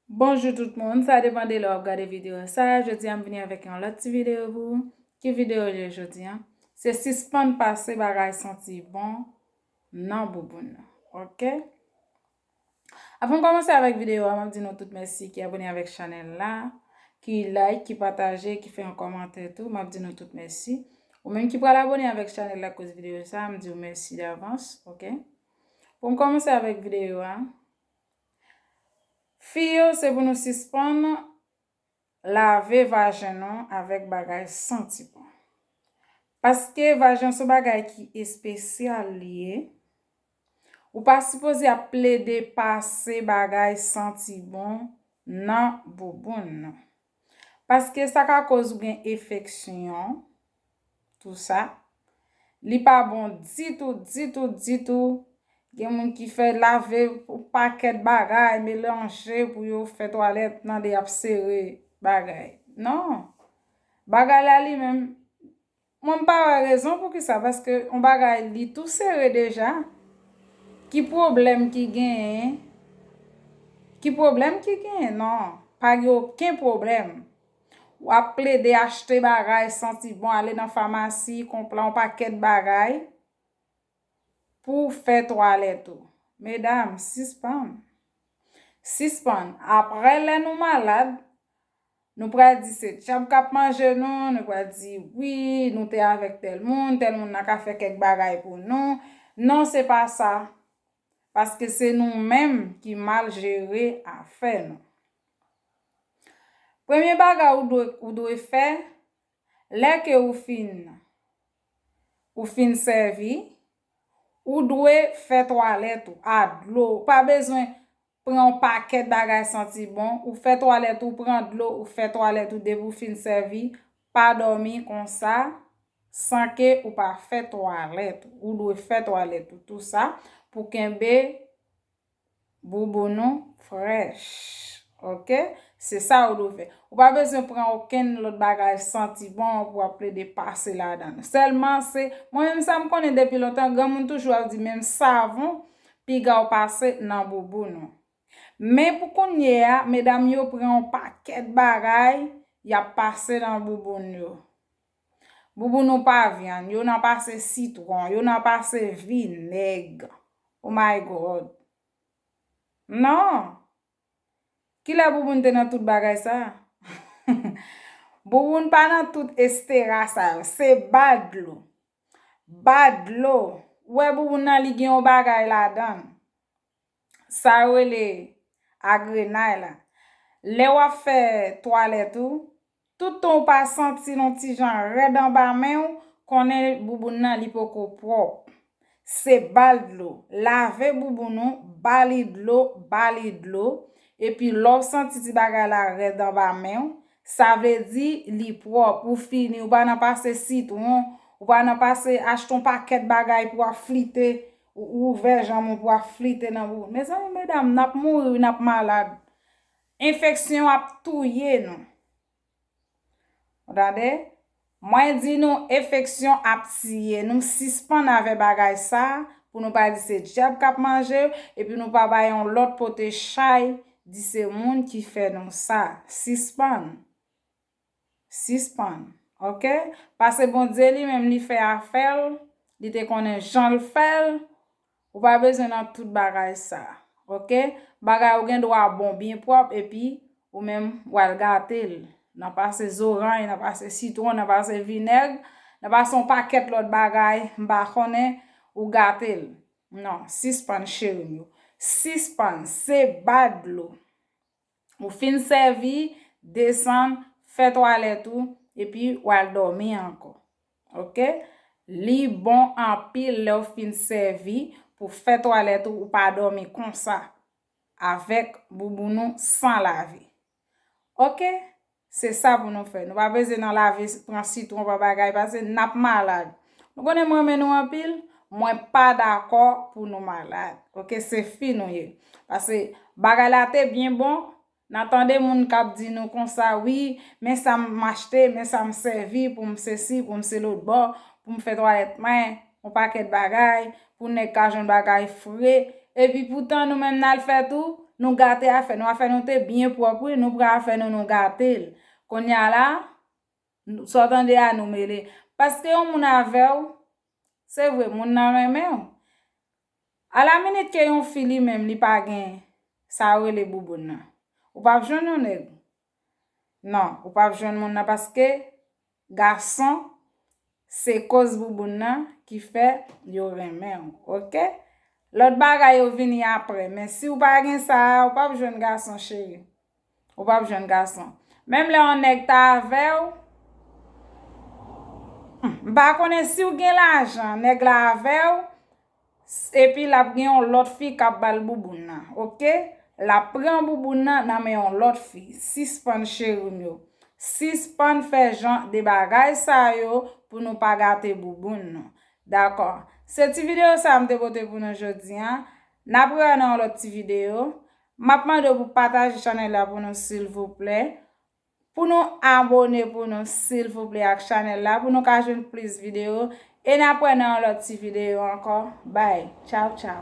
Bonjou tout moun, sa depan de lè wap gade videyo sa, jodi a m vini avèk yon lòt ti videyo pou ou, ki videyo je jodi a, se sispann pase bagay santi bon nan bouboun nou ok. Avan m kòmanse avèk videyo a map di nou tout mèsi ki abone avèk chanèl la, ki like, ki pataje, ki fè yon kòmantè tou, map di nou tout mèsi, ou menm ki pral abone avèk chanèl la akoz videyo sa, m di ou mèsi davans ok. Pou m kòmanse avèk videyo a, Fi yo se pou nou sispann lave vajen nou avèk bagay santi bon. Paske vajen son bagay ki espesyal li ye, ou pa sipoze ap plede pase bagay santi bon nan bouboun nou. Paske sa ka koz ou gen efeksyon tou sa. Li pa bon ditou, ditou, ditou. Gen moun ki fè lave yon pakèt bagay melanje pou yo fè twalèt nan de ap sere bagay. Non. Bagay la li menm Mwen m pa wè rezon poukisa paske yon bagay li tou sere deja ki pwoblèm ki genyen ki pwoblèm ki genyen nan pa gen oken pwoblèm wap plede achte bagay santi bon ale nan famasi konpran yon pakèt bagay pou w fè twalèt ou medam sispann sispann aprè lè nou malad Nou pral di se djab k ap manje nou, nou pral di wi, nou te avèk tèl moun, tèl moun nan ka fè kèk bagay pou nou. Non se pa sa. Paske se nou menm ki mal jere afè nou. Premye bagay ou dwe ou dwe fè, lè ke ou fin ou fin sèvi, ou dwe fè twalèt ou a dlo. Ou pa bezwen pran yon pakèt bagay santi bon, ou fè twalèt ou, pran dlo, ou fè twalèt ou depi ou fin sèvi, pa dòmi konsa san ke ou pa fè twalèt ou, ou dwe fè twalèt ou tou sa pou kenbe bouboun ou frèch ok, se sa ou dwe fè, ou pa bezwen pran okenn lòt bagay santi bon pou wap plede pase ladan, sèlman se, mwen menm sa m konnen depi lontan granmoun toujou ap di menm savon Piga w pase nan bouboun ou. Men pou kounye a, medam yo pran yon pakèt bagay y ap pase nan bouboun yo. Bouboun ou pa vyann, yo nan pase sitwon, yo nan pase vinèg. O may gòd! Non! Kilè bouboun te nan tout bagay sa a? Bouboun pa nan tout estera sa yo. Se ba dlo. Ba dlo. Wè bouboun nan li gen yon bagay ladan. Sa yo rele agrenay la. Lè wap fè twalèt ou, tout tan ou pa santil yon ti jan rèd anba men ou, konnen bouboun nan li poko pwòp. Se bal dlo. Lave bouboun ou, ba li dlo, ba li dlo. Epi lè w santi ti bagay la rèd anba men ou, Sa vle di li pwòp, ou fini, ou pa nan pase sitwon, ou pa nan pase achte yon pakèt bagay pou ap flite, ou ouvè janm ou pou ap flite nan bouboun. Mezanmi medam n ap mouri wi n ap malad. Enfeksyon ap touye nou. Ou tande? Mwen di nou efeksyon ap tiye nou sispann avè bagay sa pou nou pa di se dyab kap manje e pou nou pa bay yon lòt pote chay di se moun ki fè nou sa sispann sispann ok pase Bondye li menm li fè afèl li te konnen janl fèl Ou pa bezwen nan tout bagay sa. Ok. Bagay ou gen dwa bon, byen pwòp epi ou menm w al gate l. Nan pase zorany, nan pase sitwon, nan pase vinèg, nan pase yon pakèt lòt bagay m pa konnen, ou gate l. Non, sispann cheri m yo. Sispann. Se ba dlo. Ou fin sèvi, desann, fè twalèt ou, epi ou al dòmi ankò. Ok. Li bon anpil lè ou fin sèvi, pou w fè twalèt ou, ou pa dòmi konsa, avèk bouboun ou san lave. Ok. Se sa pou nou fè. Nou pa peze nan lave, pran sitwon, pran bagay pase n ap malad. Nou konnen m renmen nou anpil, mwen pa dakò pou nou malad. Ok, se fi nou ye. Pase bagay la te byen bon, nan tande moun k ap di nou konsa, wi, men sa m achte, men sa m sèvi pou m sesi, pou m selotbò, pou m fè twalèt mwen. On pakèt bagay, pou nèg ka jwenn bagay fre, epi poutan nou menm nal fè tou, nou gate afè nou, afè nou te byen pwòp wi, nou pran afè nou nou gatel, konnya la, sa w tande a nou mele, paske yon moun avèw, se vre moun nan renmenw, a la minit ke yon fi li menm li pa gen, sa yo rele bouboun nan, ou pap jwenn yon nèg, Non ou pap jwenn moun nan paske gason se koz bouboun nan ki fè yo renmenw ok lòt bagay yo vini aprè men siw pa gen sa ou pap jwenn gason cheri ou pap jwenn gason menm lè yon nèg ta avèw humm m pa konnen siw gen lajan nèg la avèw Epi lap gen yon lòt fi kap bal bouboun nan ok lap pran bouboun nan nan men yon lòt fi sispann cherim yo sispann fè jan de bagay sa yo pou nou pa gate bouboun nou dakò se ti video sa m te pote pou nou jodi an nap rewè nan yon lòt ti video map mande w pou pataje chanèl la pou nou silvouplè Pou nou abone pou nou silvouple ak chanel la pou nou ka jwenn plis video e nap wè nan yon lòt ti video ankò bye tchawtchaw.